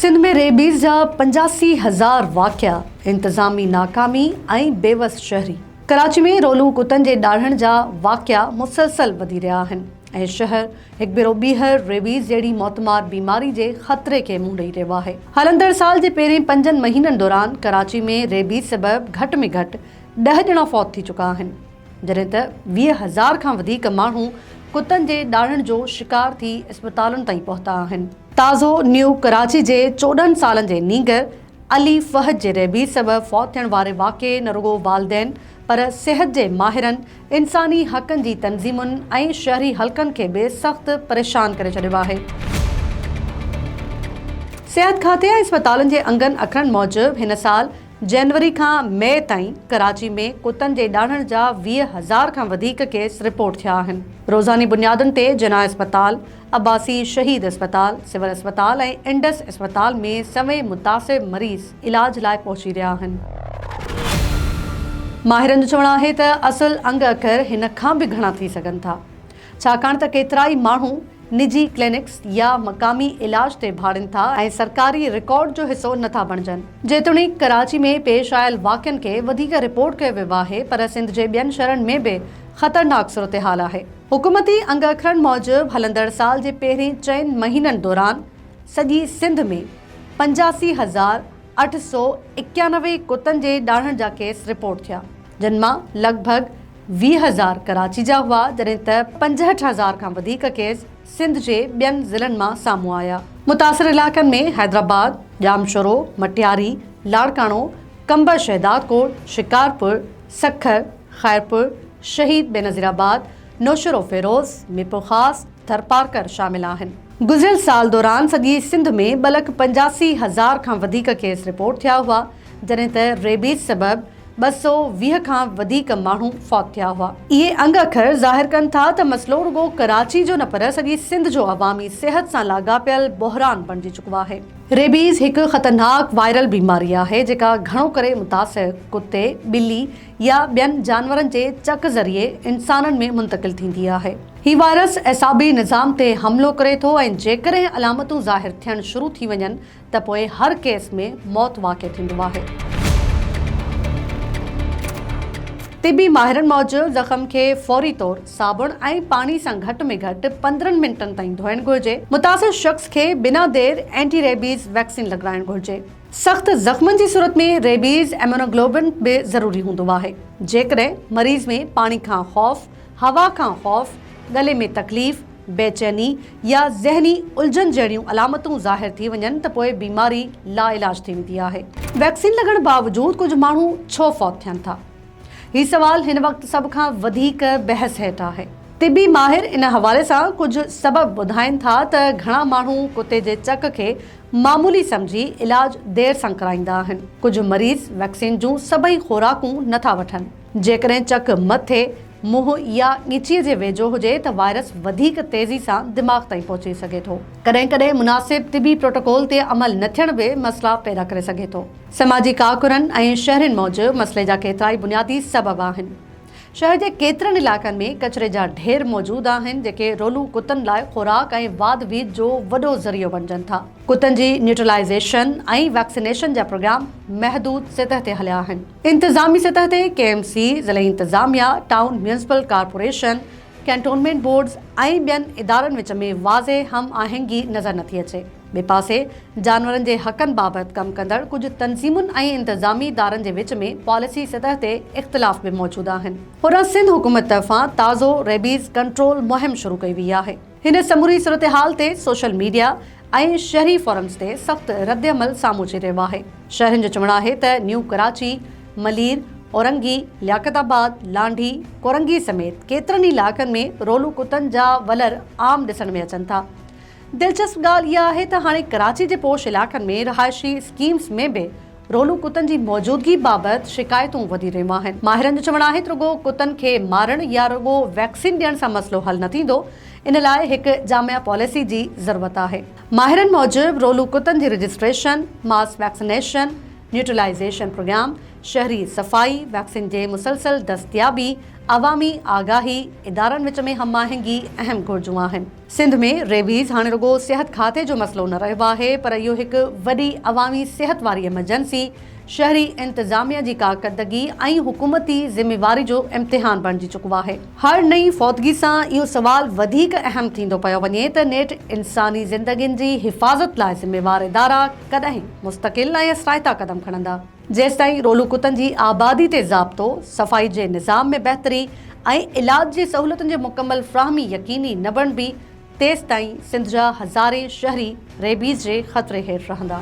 Sindh ۾ rabies جا پنجاسي هزار واقعا، انتظامي ناڪامي ۽ بيوس شهري. ڪراچي ۾ رولون ڪتن جي ڏاڙهڻ جا واقعا مسلسل وڌي رهيا آهن ۽ شهر هڪ ڀيرو ٻيهر ريبيز جهڙي موتمار بيماري جي خطري کي منهن ڏئي رهيو آهي. هلندڙ سال جي پهرين پنجن مهينن دوران ڪراچي ۾ ريبيز سبب گهٽ ۾ گهٽ ڏهه ڄڻا فوت ٿي چڪا آهن. جڏهن ته ويهه هزار کان وڌيڪ ماڻهو ڪتن جي ڏاڙهڻ جو شڪار ٿي اسپتالن تائين پهتا آهن. تازو نيو ڪراچي جي چوڏهن سالن جي نينگر علي فهد جي ريبيز سبب فوت ٿيڻ واري واقعي نه رڳو والدين پر صحت جي ماهرن، انساني حقن جي تنظيمن ۽ شهري حلقن کي به سخت پريشان ڪري ڇڏيو آهي. صحت کاتي ۽ اسپتالن جي انگن اکرن موجب هن سال جنوري کان مئي تائين ڪراچي ۾ ڪتن جي ڏاڙهڻ جا ويهه هزار کان وڌيڪ ڪيس رپورٽ ٿيا آهن. روزاني بنيادن تي جناح اسپتال، عباسي شهيد اسپتال، سول اسپتال ۽ انڊس اسپتال ۾ سوين متاثر مريض علاج لاء پهچي رهيا آهن. ماهرن جو چوڻ آهي ته اصل انگ اکر هن کان به گهڻا ٿي سگهن ٿا. ڇاڪاڻ ته ڪيترائي ماڻهو نجي ڪلينڪس يا مقامي علاج تي ڀاڙين ٿا ۽ سرڪاري رڪارڊ جو حصو نٿا بڻجن. جيتوڻيڪ ڪراچي ۾ پيش آيل واقعن کي وڌيڪ رپورٽ ڪيو ويو آهي پر سنڌ جي ٻين شھرن ۾ به خطرناڪ صورتحال آهي. حڪومتي انگ اکرن موجب هلندڙ سال جي پهرين چئن مهينن دوران سڄي سنڌ ۾ پنجاسي هزار اٺ سؤ اڪيانوي ڪتن جي ڏاڙهڻ جا ڪيس رپورٽ ٿيا. جن مان لڳ ڀڳ ويهه هزار ڪراچي جا هئا جڏهن ته پنجهٺ هزار کان وڌيڪ ڪيس سنڌ جي ٻين ضلعن مان سامهون آيا. متاثر علائقن ۾ حيدرآباد، ڄامشورو، مٽياري، لاڙڪاڻو، قمبر شهدادڪوٽ، شڪارپور، سکر، خيرپور، شهيد بينظير آباد، نوشهروفيروز، ميرپورخاص، ٿرپارڪر شامل آهن. گذريل سال دوران سڄي سنڌ ۾ ٻه لک پنجاسي هزار کان وڌيڪ ڪيس رپورٽ ٿيا هئا جڏهن ته ريبيز سبب ٻه سؤ ويهه کان وڌيڪ ماڻهو فوت ٿيا هئا. اهي انگ اکر ظاهر ڪن ٿا ته مسئلو رڳو ڪراچي جو نه پر سڄي سنڌ جو عوامي صحت سان لاڳاپيل بحران بڻجي چڪو آهي. ريبيز هڪ خطرناڪ وائرل بيماري آهي جيڪا گهڻو ڪري متاثر ڪتي، ٻلي يا ٻين جانورن جي چڪ ذريعي انسانن ۾ منتقل ٿيندي آهي. هي وائرس اعصابي نظام تي حملو ڪري ٿو ۽ جيڪڏهن علامتون ظاهر ٿيڻ شروع ٿي وڃن ته پوء هر ڪيس ۾ موت واقع ٿيندو آهي. طبي ماهرن موجب زخم کي فوري طور صابڻ ۽ پاڻي سان گهٽ ۾ گهٽ پندرهن منٽن تائين ڌوئڻ گهرجي. متاثر شخص کي بنا دير اينٽي ريبيز ويڪسين لڳرائڻ گهرجي. سخت زخمن جي صورت ۾ ريبيز ايمونوگلوبن به ضروري هوندو آهي. جيڪڏهن مريض ۾ پاڻي کان خوف، هوا کان خوف، ڳلي ۾ تڪليف، بيچيني يا ذهني الجهن جهڙيون علامتون ظاهر ٿي وڃن ته پوء بيماري لاعلاج ٿي ويندي آهي. ويڪسين لڳڻ باوجود ڪجهه ماڻهو ڇو فوت ٿين ٿا؟ هي سوال هن وقت سڀ کان وڌيڪ بحث هيٺ آهي. طبي ماهر ان حوالي سان ڪجهه سبب ٻڌائين ٿا ته گهڻا ماڻهو ڪتي جي چڪ کي معمولي سمجهي علاج دير سان ڪرائيندا آهن. ڪجهه مريض ويڪسين جون سڀئي خوراڪون نٿا وٺن. جيڪڏهن چڪ مٿي، منهن يا ڳچيء جي ويجهو هجي ته وائرس وڌيڪ تيزي سان دماغ تائين پهچي سگهي ٿو. ڪڏهن ڪڏهن مناسب طبي پروٽوڪول تي عمل نه ٿيڻ به مسئلا پيدا ڪري سگهي ٿو. سماجي ڪاڪرن ۽ شهرين موجب مسئلي جا ڪيترائي بنيادي سبب آهن. شهر جي ڪيترن علائقن ۾ ڪچري جا ڍير موجود آهن، جيڪي رولون ڪتن لاء خوراڪ ۽ واڌ ويڌ جو وڏو ذريعو بڻجن ٿا. ڪتن جي نيوٽرلائيزيشن ۽ ويڪسينيشن جا پروگرام محدود سطح تي هليا آهن. انتظامي سطح تي ڪي ايم سي، ضلعي انتظاميا، town municipal corporation, cantonment boards ۽ ٻين ادارن وچ ۾ واضح هم آهنگي نظر نٿي اچي. ٻئي پاسي جانورن جي حقن بابت ڪم ڪندڙ ڪجهه تنظيمن ۽ انتظامي ادارن جي وچ ۾ پاليسي سطح تي اختلاف به موجود آهن. هيران سنڌ حڪومت طرفان تازو ريبيز ڪنٽرول مهم شروع ڪئي وئي آهي. هن سموري صورتحال تي سوشل ميڊيا ۽ شهري فورمز تي سخت ردعمل سامهون اچي رهيو آهي. شهرين جو چوڻ آهي ته نيو ڪراچي، ملير، اورنگي، لياقت آباد، لانڍي، ڪورنگي سميت ڪيترن ئي علائقن ۾ رولو ڪتن جا ولر عام ڏسڻ ۾ اچن ٿا. دلچسپ ڳالهه اها آهي ته هاڻي ڪراچي جي پوش علائقن ۾ رهائشي اسڪيمز ۾ به رولون ڪتن جي موجودگي بابت شڪايتون وڌي رهيون آهن، ماهرن جو چوڻ آهي ته رڳو ڪتن کي مارڻ يا رڳو ويڪسين ڏيڻ سان مسئلو حل نه ٿيندو، ان لاء هڪ جامع پاليسي جي ضرورت آهي. ماهرن موجب رولون ڪتن جي registration, mass vaccination, neutralization program, شهري صفائي، ويڪسين جي مسلسل دستيابي، عوامي آگاهي، ادارن وچ ۾ هم آهنگي اهم گهرجون آهن. سنڌ ۾ ريبيز هاڻي رڳو صحت کاتي جو مسئلو نه رهيو آهي پر اهو هڪ وڏي عوامي صحت واري ايمرجنسي، شهري انتظاميه جي ڪارڪردگي ۽ حڪومتي ذميواري جو امتحان بڻجي چڪو آهي. هر نئين فوتگي سان اهو سوال وڌيڪ اهم ٿيندو پيو وڃي ته نيٺ انساني زندگين جي حفاظت لاء ذميوار ادارا ڪڏهن مستقل ۽ اثرائتا قدم کڻندا؟ جيستائين رولو ڪتن جي آبادي تي ضابطو، صفائي جي نظام ۾ بهتري ۽ علاج جي سهولتن جي مڪمل فراهمي يقيني نه بڻبي، تيستائين سنڌ جا هزارين شهري ريبيز جي خطري هيٺ رهندا.